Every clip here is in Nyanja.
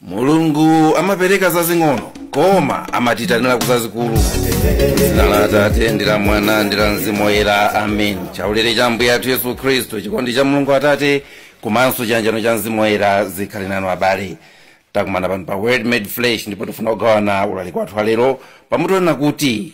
mulungu amapereka zazing'ono koma amatiitanira kuzazikulu dzina la atate ndi la mwana ndi la mzimu woyera amen chaulere cha ambuye athu yesu khristu chikondi cha mulungu atate komanso chiyanjano cha mzimu woyera zikhale nanu abale takumana pano pa word made flesh ndipo tifuna kugawana ulaliki wathu walero pamutu wonena kuti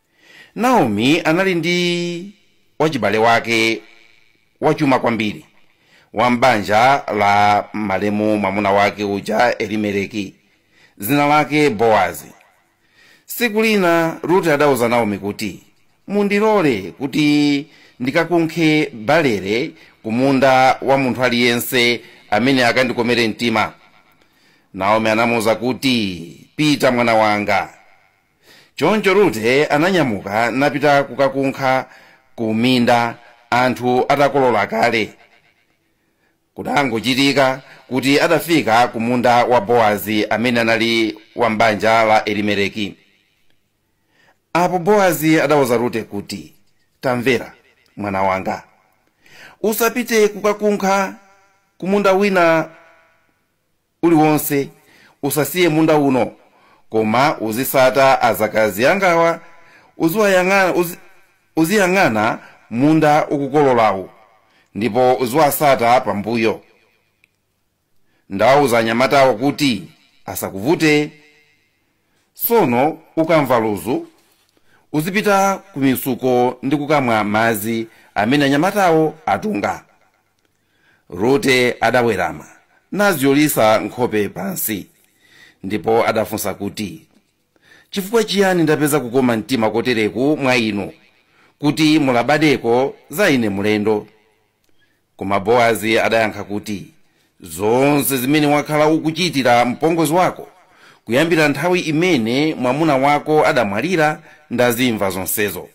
naomi anali ndi wachibale wake wachuma kwambiri wa m'banja la malemu mwamuna wake uja elimeleki dzina lake bowazi tsiku lina rute adauza naomi kuti mundilole kuti ndikakunkhe balere ku munda wa munthu aliyense amene akandikomere mtima naomi anamuwuza kuti pita mwana wanga choncho rute ananyamuka napita kukakunkha ku minda anthu atakolola kale kudangochitika kuti adafika ku munda wa boazi amene anali wa m'banja la elimeleki apo boazi adauza rute kuti tamvera mwana wanga usapite kukakunkha kumunda wina uliwonse. Usasiye munda uno, koma uzisata azakazi angawa, uziyang'ana munda akukololawo, ndipo uziwasata pambuyo. Ndawauza anyamatawo kuti asakuvute. Sono ukamva luzu, uzipita ku mitsuko ndi kukamwa madzi amene anyamatawo atunga. rute adawerama nazyolitsa nkhope pansi ndipo adafunsa kuti chifukwa chiyani ndapeza kukoma mtima kotereku mwa inu kuti mulabadeko za ine mlendo koma boazi adayankha kuti zonse zimene wakhala ukuchitira mpongozi wako kuyambira nthawi imene mwamuna wako adamwalira ndazimva zonsezo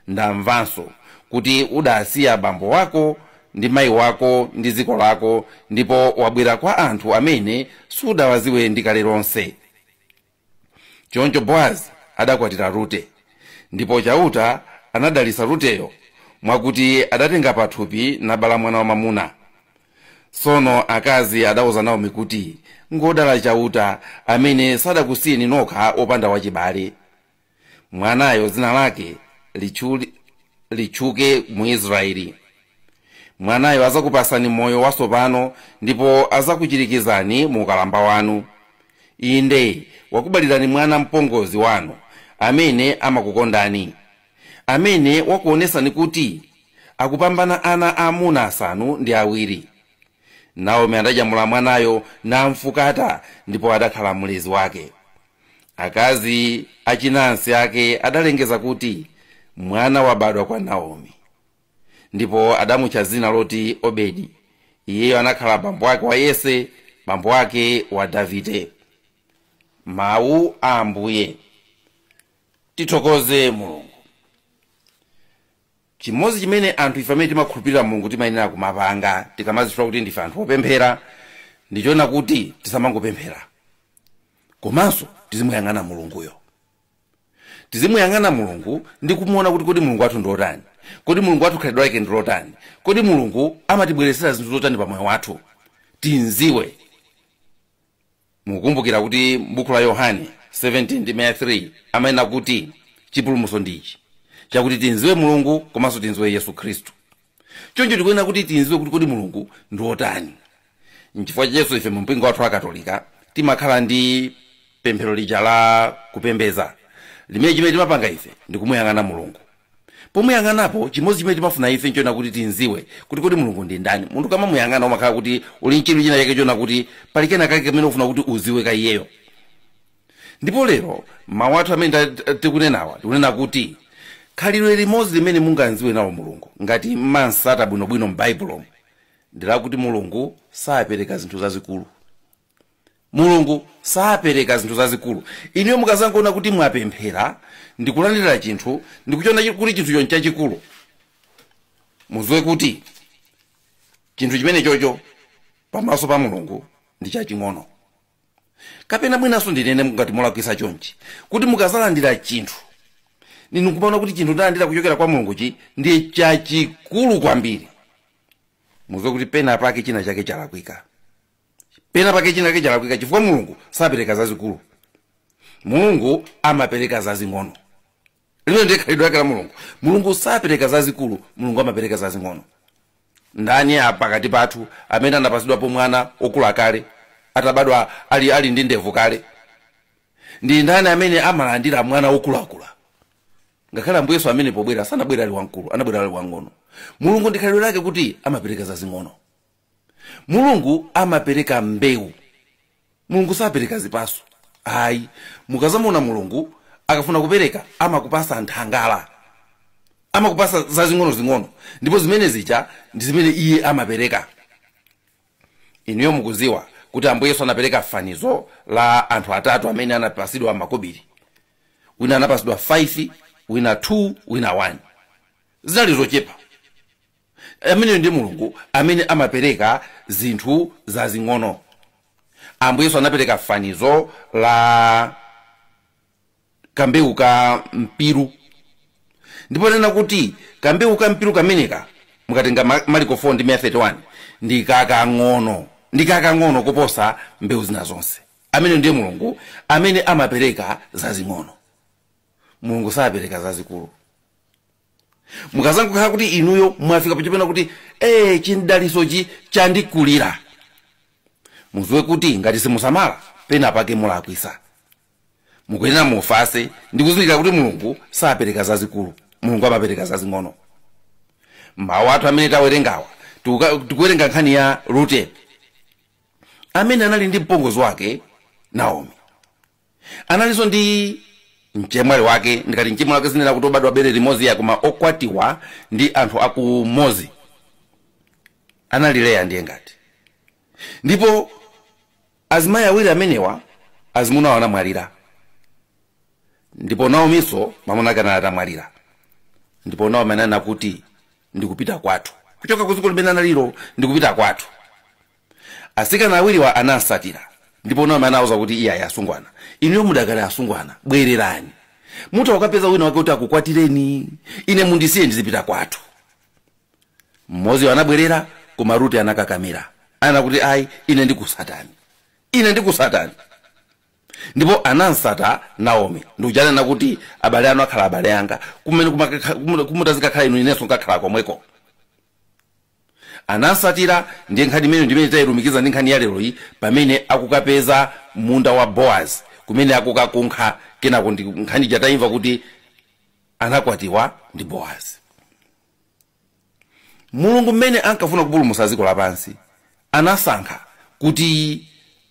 ndamvanso kuti udasiya bambo wako ndi mayi wako ndi dziko lako ndipo wabwera kwa anthu amene sudawadziwe ndi kale lonse choncho boazi adakwatira rute ndipo chauta anadalitsa ruteyo mwakuti adatenga pathupi nabala mwana wamamuna tsono akazi adauza naomi kuti ngodala chauta amene sadakusiyeni nokha opanda wachibale mwanayo dzina lake lichuli- litchuke mu israeli mwanayo azakupasani moyo wasopano ndipo azakuchirikizani mu ukalamba wanu inde wakubalirani mwana mpongozi wanu amene amakukondani amene wakuonesani kuti akupambana ana aamuna asanu ndi awiri naomi adanyamula mwanayo namfukata ndipo adakhala mlezi wake akazi achinansi ake adalengeza kuti mwana wabadwa kwa naomi ndipo adamutcha dzina loti obedi iyeyo anakhala bambo wake wa yese bambo wake wa davide mawu a ambuye tithokoze mulungu chimodzi chimene anthu ife amene timakhulupirira mulungu timayenera kumapanga tikamazitchula kuti ndife anthu opemphera ndichoona kuti tisamangopemphera komanso tizimuyang'ana mulunguyo tizimuyang'ana mulungu ndi kumuona kuti kodi mulungu wathu ndi otani kodi mulungu wathu khalidwe lake ndi lotani kodi mulungu amatibweretsera zinthu zotani pa moyo wathu timziwe mukukumbukira kuti m'buku la yohane 17 ndime ya 3 amanena kuti chipulumutso ndichi chakuti timziwe mulungu komanso timziwe yesu khristu choncho tikuyenera kuti timziwe kuti kodi mulungu ndi wotani nchifukwa chakenso ife mu mpingo wathu wa katolika timakhala ndi pemphero lija la kupembeza limene chimene timapanga ife ndi kumuyang'ana mulungu pomuyang'anapo chimodzi chimene timafuna ife nchoona kuti timziwe kuti kodi mulungu ndi ndani munthu ukamamuyang'ana umakhala kuti uli nchidwi china chake choona kuti pali kena kake kamene ufuna kuti uziwe ka iyeyo ndipo lero mawu athu amene ta- ta- tikunenawa tikunena kuti khalidwe limodzi limene mungamziwe nawo mulungu ngati mumamsata bwinobwino m'baibulomo ndilakuti mulungu sapereka zinthu zazikulu mulungu sapereka zinthu zazikulu inuyo mukazangoona kuti mwapemphera ndikulandira chinthu ndikuchiona chi- kuti chinthucho nchachikulu muziwe kuti chinthu chimenechocho pamaso pa mulungu ndi chaching'ono kapena mwinanso ndinene ngati ndulakwisa chonchi kuti mukazalandira chinthu ninu kumaona kuti chinthu ndalandira kuchokera kwa mulunguchi ndiye chachikulu kwambiri muziwe kuti pena pake china chake chalakwika pena pake chinake chalakwika chifukwa mulungu sapereka zazikulu mulungu amapereka zazing'ono limene ndiye khalidwe lake la mulungu mulungu sapereka zazikulu mulungu amapereka zazing'ono ndani pakati pathu amene anapatsidwapo mwana okula kale atabadwa ali, ali ndi ndevu kale ndi ndani amene amalandira mwana okulakula ngakhale ambuye yesu amene pobwera sanabwera ali wamkulu anabwera ali wang'ono mulungu ndi khalidwe lake kuti amapereka zazing'ono mulungu amapereka mbewu mulungu sapereka zipatso ayi mukazamona mulungu akafuna kupereka amakupatsa nthangala amakupatsa zazing'onozing'ono ndipo zimene zija ndi zimene iye amapereka inuyo mukudziwa kuti ambuye yesu anapereka fanizo la anthu atatu amene anapatsidwa makobiri wina anapatsidwa 5 wina 2 wina 1 zinali zochepa ameneyo ndiye mulungu amene amapereka zinthu zazing'ono ambuye yesu anapereka fanizo la kambewu ka mpiru ndipo anena kuti kambewu ka mpiru kameneka mukatenga mariko 4 ndime ya 31 ndi kakang'ono ndi kakang'ono kuposa mbewu zina zonse ameneyo ndiye mulungu amene amapereka zazing'ono mulungu sapereka zazikulu mukazangokhala kuti inuyo mwafika pachopena kuti ee chimdalitsochi chandikulira mudziwe kuti ngati simusamala pena pake mulakwitsa mukuyenera mufatse ndikuzindikira kuti mulungu sapereka zazikulu mulungu amapereka zazing'ono mawu athu amene tawerengawa tikuwerenga nkhani ya rute amene anali ndi mpongozi wake naomi analinso ndi mchemwali wake ndikati mchemwali wake sinena kuti obadwa bere limodzi ayi koma okwatiwa ndi anthu akumodzi anali leya ndiye ngati ndipo azimayi awiri amenewa azimuna awo anamwalira ndipo naominso mamuna ake anali atamwalira ndipo naomi ananena kuti ndikupita kwathu kuchoka ku dziko limene analilo ndikupita kwathu atsikana awiriwa anamsatira ndipo naomi anawauza kuti iye ayi asungwana inuyo mudakali asungwana bwererani mutha kukapeza wina wake kuti akukwatireni ine mundisiye ndizipita kwathu mmoziyo anabwerera koma rute anakakamira anena kuti ayi ine ndikutsatani ine ndikutsatani ndipo anamtsata naomi ndi kuja ananena kuti abale anu akhala abale anga kumene kumakakha- kumu- kumutadzikakhala inu inenso nkakhala komweko anamsatira ndiye nkhani imeneyo ndimene tayilumikiza ndi nkhani ya lero iyi pamene akukapeza munda wa boaz kumene akukakunkha kenako ndi nkhani ija tayimva kuti anakwatiwa ndi boaz mulungu mmene ankafuna kupulumutsa dziko lapansi anasankha kuti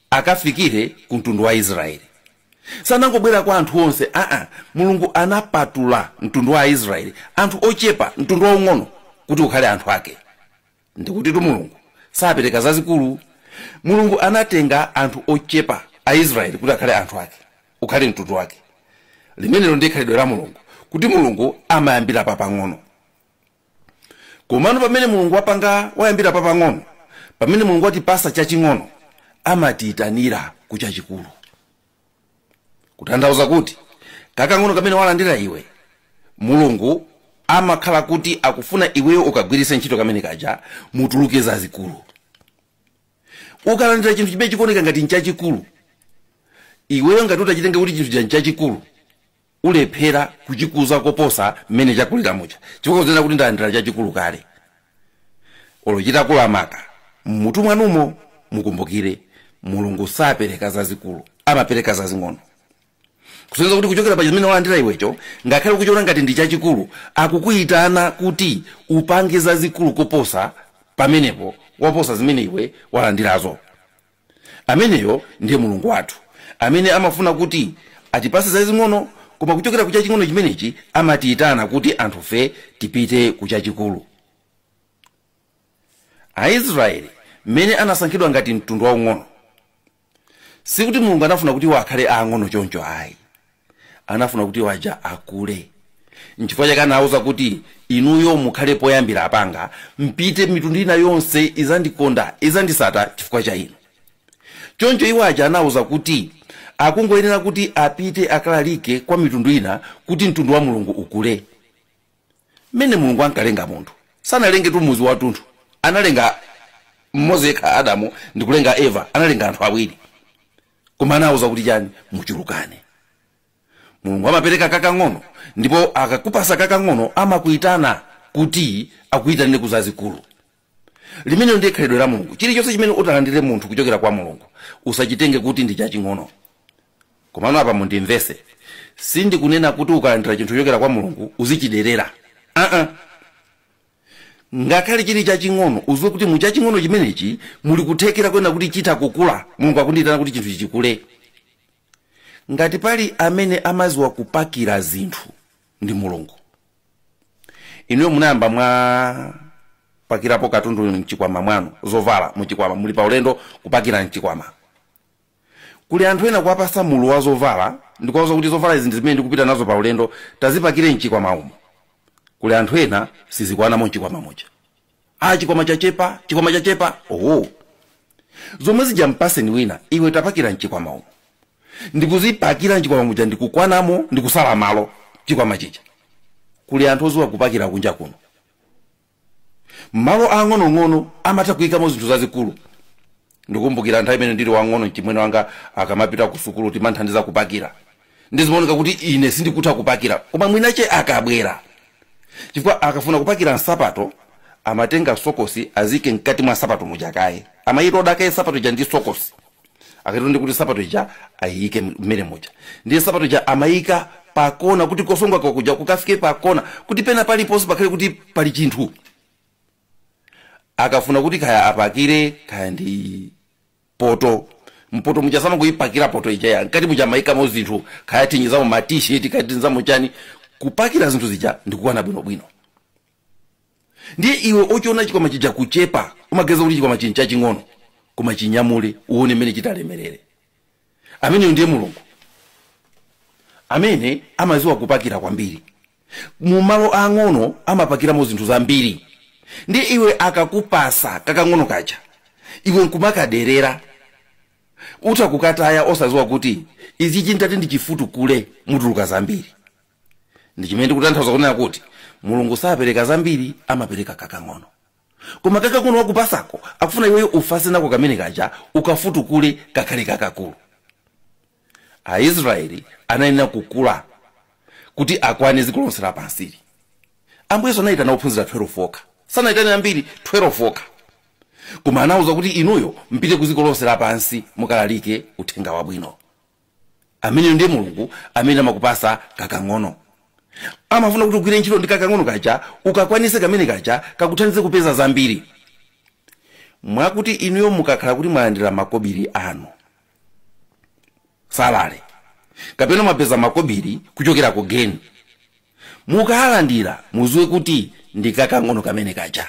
akafikire ku mtundu wa aisraeli sanangobwera kwa anthu onse aa mulungu anapatula mtundu wa aisraeli anthu ochepa mtundu waung'ono kuti ukhale anthu ake ndikutitu mulungu sapereka zazikulu mulungu anatenga anthu ochepa aisraeli kuti akhale anthu ake ukhale mtundu wake limenelo ndi khalidwe la mulungu kuti mulungu amayambira papang'ono komano pamene mulungu wapanga wayambira papang'ono pamene mulungu watipasa chaching'ono amatiyitanira ku chachikulu kutanthauza kuti kakang'ono kamene walandira iwe mulungu amakhala kuti akufuna iweyo ukagwiritse ntchito kamene kaja mutuluke zazikulu ukalandira chinthu chimene chikuoneka ngati nchachikulu iweyo ngati utachitenga kuti chinthucha nchachikulu ulephera kuchikuza koposa mmene chakulira muja chifukwa uzinena kuti ndalandira chachikulu kale olo chitakula maka mmutu mwanumo mukumbukire mulungu sapereka zazikulu amapereka zazing'ono kusonyeza kuti kuchokera pa chimene walandira iwecho ngakhale ukuchiona ngati ndi chachikulu akukuyitana kuti upange zazikulu koposa pamenepo waposa zimene iwe walandirazo ameneyo ndiye mulungu wathu amene amafuna kuti atipase zazing'ono koma kuchokera ku chaching'ono chimenechi amatiyitana kuti anthufe tipite ku chachikulu aisraeli mmene anasankhidwa ngati mtundu waung'ono sikuti mulungu anafuna kuti iwo akhale aang'ono choncho ayi anafuna kuti iwo aja akule nchifukwa chake anawuza kuti inuyo mukhale poyambira apa nkuti mpite mitundu ina yonse izandikonda izandisata chifukwa cha inu choncho iwo aja anawuza kuti akungoyenera kuti apite akalalike kwa mitundu ina kuti mtundu wa mulungu ukule mmene mulungu ankalenga munthu sanalengetu muzi watunthu analenga mmodzi yekha adamu ndikulenga eva analenga anthu awiri koma anawuza kuti chani muchulukane mulungu amapereka kakang'ono ndipo akakupasa kakang'ono amakuitana kuti akuitanire ku zazikulu limenelo ndiye khalidwe la mulungu chilichonse chimene utalandire munthu kuchokera kwa mulungu usachitenge kuti ndi chaching'ono komano apa mundimvese sindikunena kuti ukalandira chinthu chochokera kwa mulungu uzichiderera aa uh -uh. ngakhale chili chaching'ono uziwe kuti mu chaching'ono chimenechi muli kuthekera konena kuti chitha kukula mulungu akundiyitana kuti chinthuchi chikule ngati pali amene amaziwa kupakira zinthu ndi mulungu inuyo munayamba mwapakirapo katundu mchikwama mwanu zovala muchikwama muli pa ulendo kupakira mchikwama kuli anthu ena kuwapasa mulu wa zovala ndikuwauza kuti zovala izi ndi zimene ndikupita nazo pa ulendo tazipakire mchikwama umu kuli anthu ena sizikwanamo mchikwama muja a chikwama chachepa chikwama chachepa oho zomwe zija mpaseni wina iwe tapakira mchikwama umu ndikuzipakira mchikwama muja ndikukwanamo ndikusala malo chikwama chija kuli anthu oziwa kupakira kunja kuno malo ang'onong'ono amatha kuyikamo zinthu zazikulu ndikukumbukira nthawi imene ndili wang'ono mchimwene wanga akamapita ku sukulu timamthandiza kupakira ndizimaoneka kuti ine sindikutha kupakira koma mwiniwache akabwera chifukwa akafuna kupakira nsapato amatenga sokosi aziike mkati mwa nsapato muja kaye amayitoda kaye nsapato ija ndi sokosi akatero ndi kuti sapato ija ayiyike mmenemo muja ndiye sapato ija amayika pakona kuti kosonga kwakuja kukafike pakona kuti pena paliponse pakhale kuti pali chinthu akafuna kuti kaya apakire kaya ndi poto mpoto muja samangoyipakira poto iyayi mkati muja amayikamo zinthu kaya tinyizamo matisheti kaya tiziyamo chani kupakira zinthu zija ndikukwana bwinobwino ndiye iwe ochiona chikwama chija kuchepa umaganiza kuti chikwama chino n'chaching'ono koma chinyamule uone mmene chitalemerere ameneyo ndiye mulungu amene amaziwa kupakira kwambiri mu malo ang'ono amapakiramo zinthu zambiri ndiye iwe akakupasa kakang'ono kaja iwe nkumakaderera utha kukataya osaziwa kuti izi nditati ndichifutukule mutuluka zambiri ndi chimene ndikutanthauza kunena kuti mulungu sapereka zambiri amapereka kakang'ono koma kakang'ono wakupasako akufuna iweyo uvase nako kamene kaja ukafutukule kakhale kakakulu aisraeli anayenera kukula kuti akwane dziko lonse lapansili ambuye yesu anayitana ophunzira 12 okha sanayitane ambiri 12 okha koma anawauza kuti inuyo mpite ku dziko lonse lapansi mukalalike uthenga wabwino ameneyo ndiye mulungu amene amakupasa kakang'ono amafuna kuti ugwire ntchito ndi kakang'ono kaja ukakwanise kamene kaja kakuthandize kupeza zambiri mwakuti inuyo mukakhala kuti mwalandira makobiri anu salale kapena mwapeza makobiri kuchokera ku geni mukalandira muziwe kuti ndi kakang'ono kamene kaja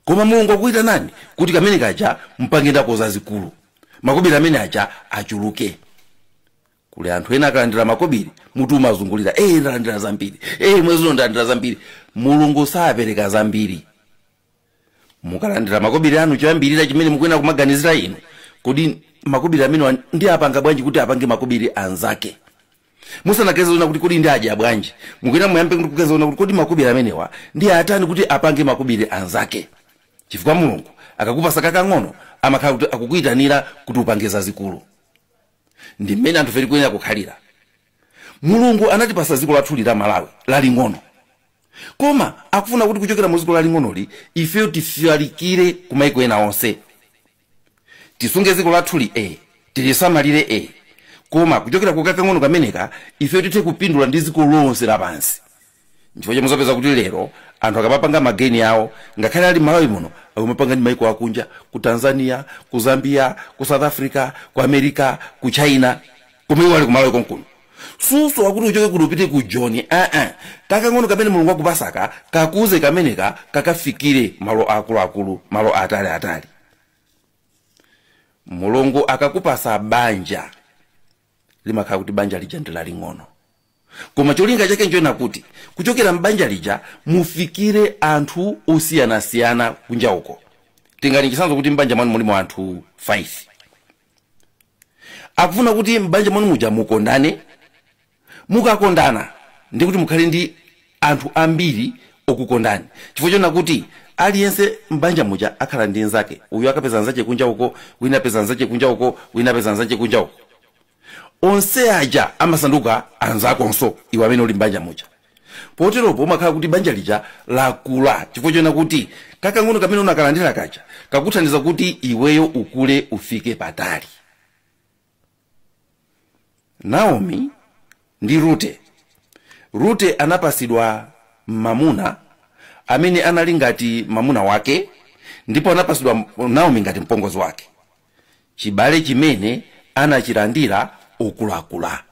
koma mulungu akuitanani kuti kamene kaja mpange nako zazikulu makobiri amene aja achuluke kuli anthu ena akalandira makobiri mutu umazungulira ee ndalandira zambiri ee mwezi uno ndalandira zambiri mulungu sapereka zambiri mukalandira makobiri anu choyambirira chimene mukuyenera kumaganizira inu kodi makobiri amenewa ndiwapanga bwanji kuti apange makobiri anzake musanaganize zonena kuti kodi ndiwadya bwanji mukuyenera muyambe kuti kuganiza zonena kuti kodi makobiri amenewa ndiwatani kuti apange makobiri anzake chifukwa mulungu akakupasa kakang'ono amakhala kuti akukuyitanira kuti upange zazikulu ndi mmene anthu fe tikuyenera kukhalira mulungu anatipasa dziko lathuli la malawi laling'ono koma akufuna kuti kuchokera mu dziko laling'onoli ifeyo tifalikire kumaiko ena onse tisunge dziko lathuli e tilisamalire e koma kuchokera ku kakang'ono kameneka ife tithe kupindula ndi dziko lonse lapansi nchifukwa chomwe muzapeza kuti lero anthu akamapanga mageni awo ngakhale ali malawi muno akumapanga ndi maiko akunja ku tanzania ku zambia ku south africa ku america ku china koma iwo ali ku malawi konkuno susowa kuti uchoke kuti upite ku joni aa kakang'ono kamene mulungu akupasaka kakuze kameneka kakafikire malo akuluakulu malo atali atali mulungu akakupasa banja limakhala kuti banja lija ndi laling'ono koma cholinga chake nchoena kuti kuchokera m'banja lija mufikire anthu osiyanasiyana kunja uko tingati chisanzo kuti m'banja mwanu mulimo anthu 5 akufuna kuti m'banja mwanu muja mukondane mukakondana ndi kuti mukhale ndi anthu ambiri okukondani chifukwa chona kuti aliyense m'banja muja akhala ndi nzake uyu akapeza nzache kunja uko wina apeza nzache kunja uko wina apeza nzache kunja uko onse aja amasanduka anzakonso iwe amene uli m'banja muja poteropo umakhala kuti banja lija lakula chifukwa chona kuti kakang'ono kamene unakalandira kaja kakuthandiza kuti iweyo ukule ufike patali naomi ndi rute rute anapasidwa mamuna amene anali ngati mamuna wake ndipo anapasidwa naomi ngati mpongozi wake chibale chimene anachilandira okulakula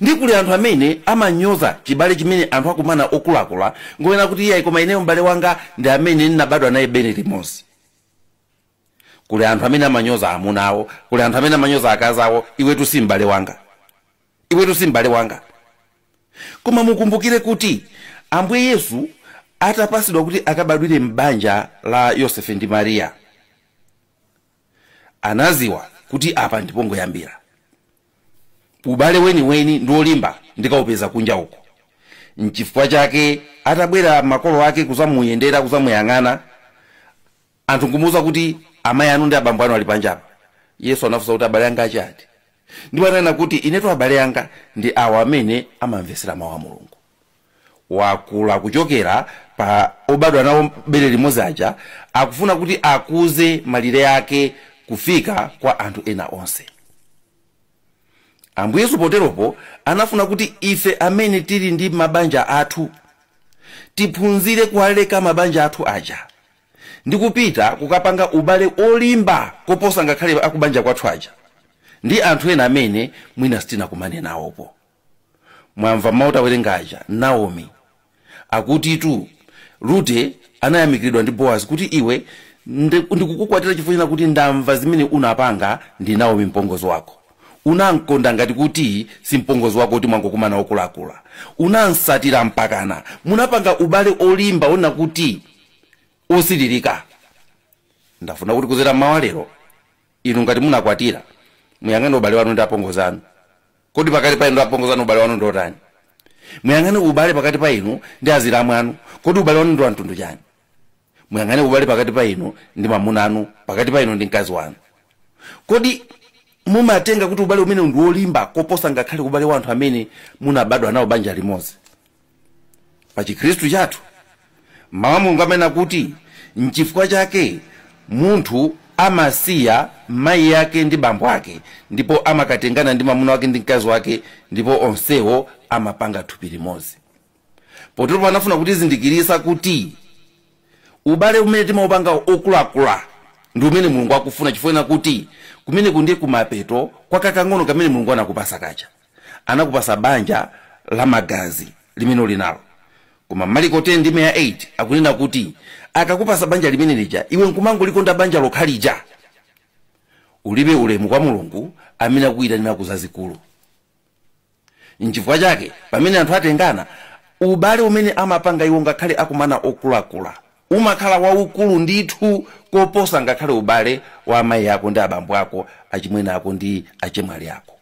ndi kuli anthu amene amanyoza chibale chimene anthu akumana okulakula ngoena kuti iyayi koma ineyo m'bale wanga ndi amene ndinabadwa naye bere limodzi kuli anthu amene amanyoza amuna awo kuli anthu amene amanyoza akazi awo iwetu si m'bale wanga iwetu si m'bale wanga koma mukumbukire kuti ambuye yesu atapasidwa kuti akabadwire m'banja la yosefe ndi mariya anaziwa kuti apa ndipongoyambira ubale weniweni ndi olimba ndikaupeza kunja uko nchifukwa chake atabwera makolo ake kuzamuyendera kuzamuyang'ana anthu nkumuuza kuti amayi anu ndi abambo anu ali panjapa yesu anafunsa kuti abale anga ndi ati ndipo ananena kuti inetu abale anga ndi awa amene amamvetsera mawu a mulungu wakula kuchokera pa obadwa nawo bere limodzi aja akufuna kuti akuze malire ake kufika kwa anthu ena onse ambuye yesu poteropo anafuna kuti ife amene tili ndi mabanja athu tiphunzire kuwaleka mabanja athu aja ndi kupita kukapanga ubale olimba koposa ngakhale akubanja kwathu aja ndi anthu ena amene mwina sitinakumane nawopo mwamva mawu tawerenga aja naomi akutitu Rute anayamikiridwa ndi boazi kuti iwe ndi- ndikukukwatira chifukwa china kuti ndamva zimene unapanga ndi naomi mpongozi wako unamkonda ngati kuti si mpongozi wako kuti mwangokumana okulakula unamsatira mpakana munapanga ubale olimba ona kuti osilirika ndafuna kuti kuzera mmawa walero inu ngati munakwatira muyang'ane ubale wanu ndi apongozi anu kodi pakati pa inu ndi apongozi anu ubale wanu ndi otani muyang'ane ubale pakati pa inu ndi azilamu anu kodi ubale wanu ndi wa mtundu chani muyang'ane ubale pakati pa inu ndi mamuna anu pakati pa inu ndi mkazi wanu kodi mumatenga kuti ubale umenewu ndi wolimba koposa ngakhale ubale wa anthu amene munabadwa nawo banja limodzi pa chikhristu chathu mawu a mulungu amanena kuti nchifukwa chake munthu amasiya mayi ake ndi bambo ake ndipo amakatengana ndi mwamuna wake ndi mkazi wake ndipo onsewo amapanga thupi limodzi potero anafuna kutizindikirisa kuti ubale umene timaupanga okulakula ndi umene mulungu akufuna chifukwa kuti kumeneku ndiye kumapeto kwa kakang'ono kamene mulungu anakupasa kaja anakupasa banja la magazi limene uli nalo koma maliko 10 ndime ya 8 akunena kuti akakupasa banja limene lija iwe nkumangolikonda banja lokha lija ulibe ulemu kwa mulungu amene akukuyitanira ku zazikulu nchifukwa chake pamene anthu atengana ubale umene amapanga iwo ngakhale akumana okulakula umakhala waukulu ndithu koposa ngakhale ubale wa amayi ako ndi abambo ako achimwene ako ndi achemwali ako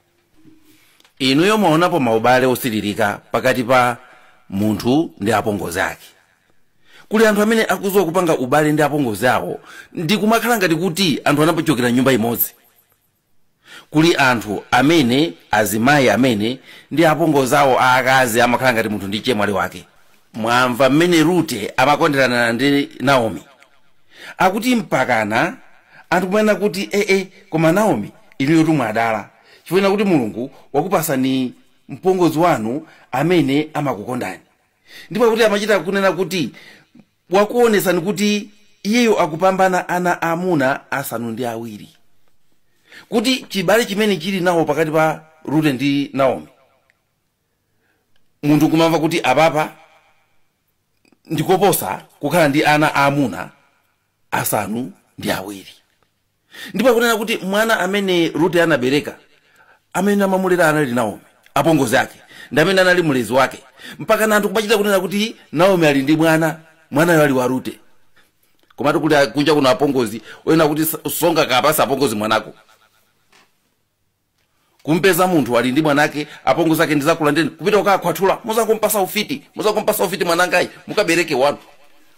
inuyo mwaonapo maubale osilirika pakati pa munthu ndi apongozi ake kuli anthu amene akuziwa kupanga ubale ndi apongozi awo ndi kumakhala ngati kuti anthu anapachokera mnyumba imodzi kuli anthu amene azimayi amene ndi apongozi awo aakazi amakhala ngati munthu ndi chemwali wake mwamva mmene rute amakonderana ndi naomi akuti mpakana anthu kumanena kuti ee koma naomi inuyo tumwadala chifukwa chonena kuti mulungu wakupasani mpongozi wanu amene amakukondani ndipo akuti amachita kunena kuti wakuonesani kuti iyeyo akupambana ana amuna asanu ndi awiri kuti chibale chimene chili nawo pakati pa rute ndi naomi munthu kumamva kuti apapa ndikoposa kukhala ndi ana aamuna asanu ndi awiri ndipo akunena kuti mwana amene rute anabereka amene amamulera anali naomi apongozi ake ndi amene anali mlezi wake mpakana anthu kumachita kunena kuti naomi ali ndi mwana mwanayo ali wa rute komatu kuli kunja kuno apongozi onena kuti sungakapasa apongozi mwana wako kumpeza munthu ali ndi mwanake apongozi ake ndizakulanda eni kupita kukakhwathula muzankumpasa ufiti muzankumpasa ufiti mwanangayi mukabereke wanu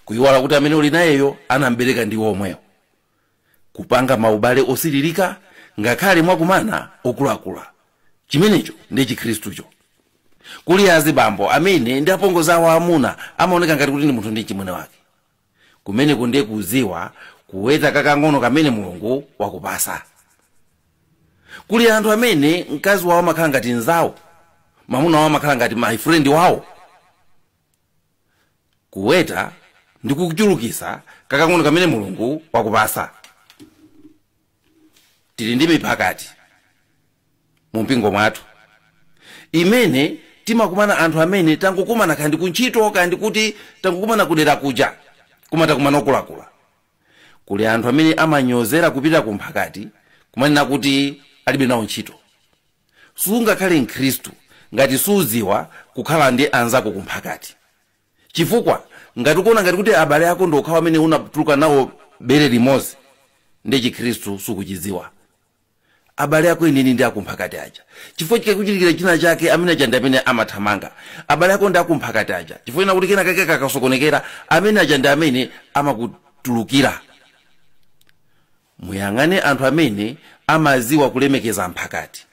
kuyiwala kuti amene uli nayeyo anambereka ndi omwewo kupanga maubale osilirika ngakhale mwakumana okulakula chimenecho ndi chikhristucho kuli azibambo amene ndi apongozi awo amuna amaoneka ngati kuti ndi munthu ndi mchimwene wake kumeneko ndiye kuziwa kuweta kakang'ono kamene mulungu wakupasa kuli anthu amene mkazi wawo amakhala ngati mzawo mamuna wawo amakhala ngati my friend wawo kuweta ndi kuchulukisa kakang'ono kamene mulungu wakupasa tili ndi miphakati mu mpingo mwathu imene timakumana anthu amene tangokumana kaya ndi kuntchito kaya ndi kuti tangokumana kudera kuja koma takumana okulakula kuli anthu amene amanyozera kupita ku mphakati kumanena kuti alibe nawo ntchito sungakhale mkhristu ngati suziwa kukhala ndi anzako ku mphakati chifukwa ngati ukuona ngati kuti abale ako ndi okhawo amene unatuluka nawo bere limodzi nde chikhristu sukuchiziwa abale ako enieni ndi akumphakati aja chifukwa chikakuchitikira china chake amene aja ndi amene amathamanga abale ako ndi akumphakati aja chifukwa ina kuti kena kake kakasokonekera amene aja ndi amene amakutulukira muyang'ane anthu amene amaziwa kulemekeza mphakati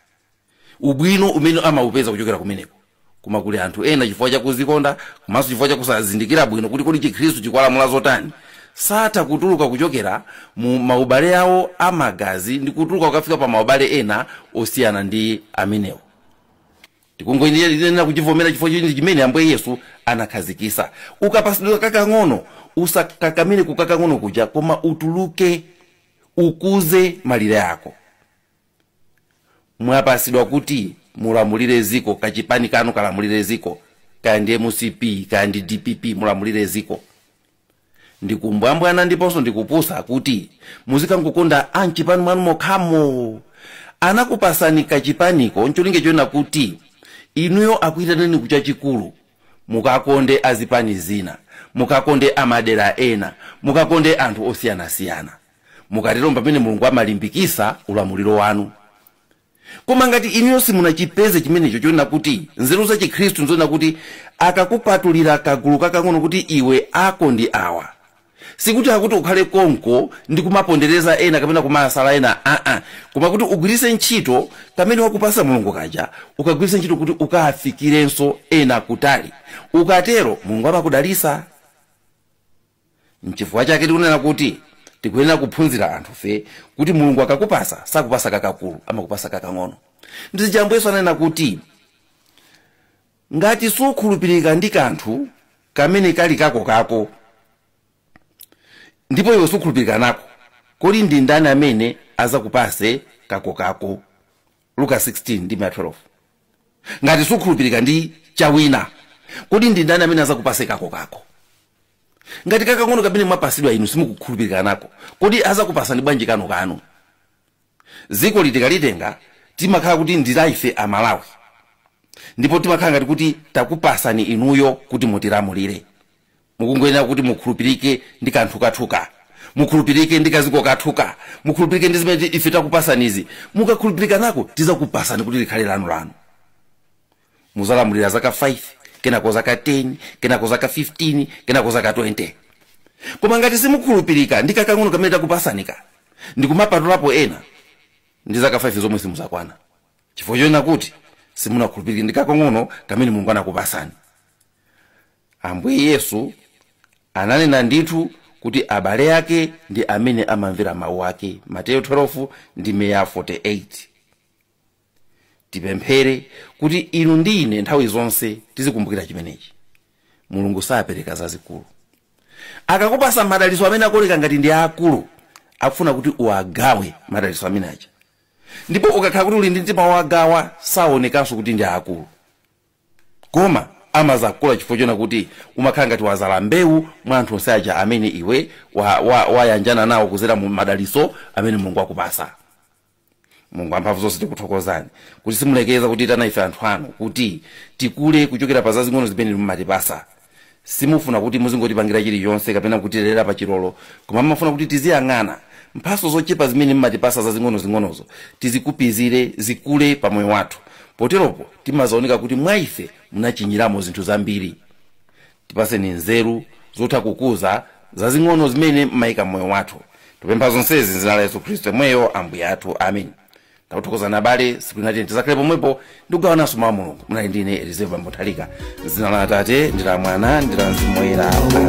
ubwino umene amaupeza kuchokera kumeneko koma kuli anthu ena chifukwa chakuzikonda komanso chifukwa chakusazindikira bwino kuti kodi chikhristu chikuwalamula zotani satha kutuluka kuchokera mu maubale awo amagazi ndi kutuluka kukafika pa maubale ena osiyana ndi amenewo tikungoyenera kuchivomera chifukwa choti chimene ambuye yesu anakhazikisa ukapasidwa kakang'ono usakakamire kukakang'ono kuja koma utuluke ukuze malire ako mwapasidwa kuti mulamulire ziko kachipani kanu kalamulire ziko kaya ndi mcp kaya ndi dpp mulamulire ziko ndikumbwambwana ndiponso ndikupusa kuti muzikangokonda amchipani mwanu mokhamo anakupasani kachipaniko ncholinga chonena kuti inuyo akuyitaneni kuchachikulu mukakonde azipani zina mukakonde amadera ena mukakonde anthu osiyanasiyana mukatero mpamene mulungu amalimbikisa ulamuliro wanu koma ngati inuyo simunachipeze chimenecho chonena kuti nzeru za chikhristu nzonena kuti akakupatulira kagulu kakang'ono kuti iwe ako ndi awa sikuti akuti ukhale konko ndi kumapondereza ena kapena kumawasala ena aa koma kuti ugwirise ntchito kamene wakupasa mulungu kaja ukagwirise ntchito kuti ukafikirenso ena kutali ukatero mulungu amakudalisa nchifukwa chake tikunena kuti tikuyenera kuphunzira anthufe kuti mulungu akakupasa sakupasa kakakulu amakupasa kakang'ono ndi zija ambuye yesu ananena kuti ngati sukhulupirika ndi kanthu kamene kali kako kako ndipo iwe sukhulupirika nako kodi ndi ndani amene azakupase kako kako luka 16 ndime ya 12 ngati sukhulupirika ndi chawina kodi ndi ndani amene azakupase kako kako ngati kakang'ono kamene mwapasidwa inu simukukhulupirika nako kodi azakupasani bwanji kanu kanu dziko litikalitenga timakhala kuti ndi la ife amalawi ndipo timakhala ngati kuti takupasani inuyo kuti mutilamulire mukungoyenera kuti mukhulupirike ndi kanthu kathuka mukhulupirike ndi kaziko kathuka mukhulupirike ndi zimene ti- ife takupasanizi mukakhulupirika nako tizakupasani kuti likhale lanu lanu muzalamulira zaka 5 kenako zaka 10 kenako zaka 15 kenako zaka 20 koma ngati simukhulupirika ndi kakang'ono kamene takupasanika ndikumapatulapo ena ndi zaka 5 zomwe simuzakwana chifukwa chonena kuti simunakhulupirike ndi kakang'ono kamene mulungu anakupasani Ambuye Yesu ananena ndithu kuti abale ake ndi amene amamvera mawu ake, Mateyo 12 ndime ya 48. Tipemphere kuti inu ndi ine nthawi zonse tizikumbukira chimenechi. Mulungu sapereka zazikulu. Akakupasa madaliso amene akuoneka ngati ndi aakulu, akufuna kuti uwagawe madaliso amene aja. Ndipo ukakhala kuti uli ndi mtima wogawa, saonekanso kuti ndi aakulu. koma amazakula chifukwa chonena kuti umakhala ngati wazala mbewu mwa anthu onse aja amene iwe wayanjana wa, wa nawo kuzera mu madaliso amene mulungu wakupasa mulungu amphamvu zonse tikuthokozani kuti simulekeza kutiitana ife anthu anu kuti tikule kuchokera pa zazing'ono zimene mumatipasa simufuna kuti muzingotipangira chilichonse kapena kutilera pa chilolo koma mumafuna kuti tiziyang'ana mphaso zochepa zimene mmatipasa zazing'onozing'onozo tizikupizire zikule pa moyo wathu poteropo timazaoneka kuti mwa ife munachinyiramo zinthu zambiri tipaseni nzeru zotha kukuza zazing'ono zimene mmayika mmoyo wathu tikupempha zonsezi m'dzina la yesu khristu yemweyo ambuye athu amen takuthokozani abale siku linati tizakhale pomwepo ndikugawananso mawu a mulungu munali ndi ine elizeo nthalika m'dzina la atate ndi la mwana ndi la mzimu woyera amen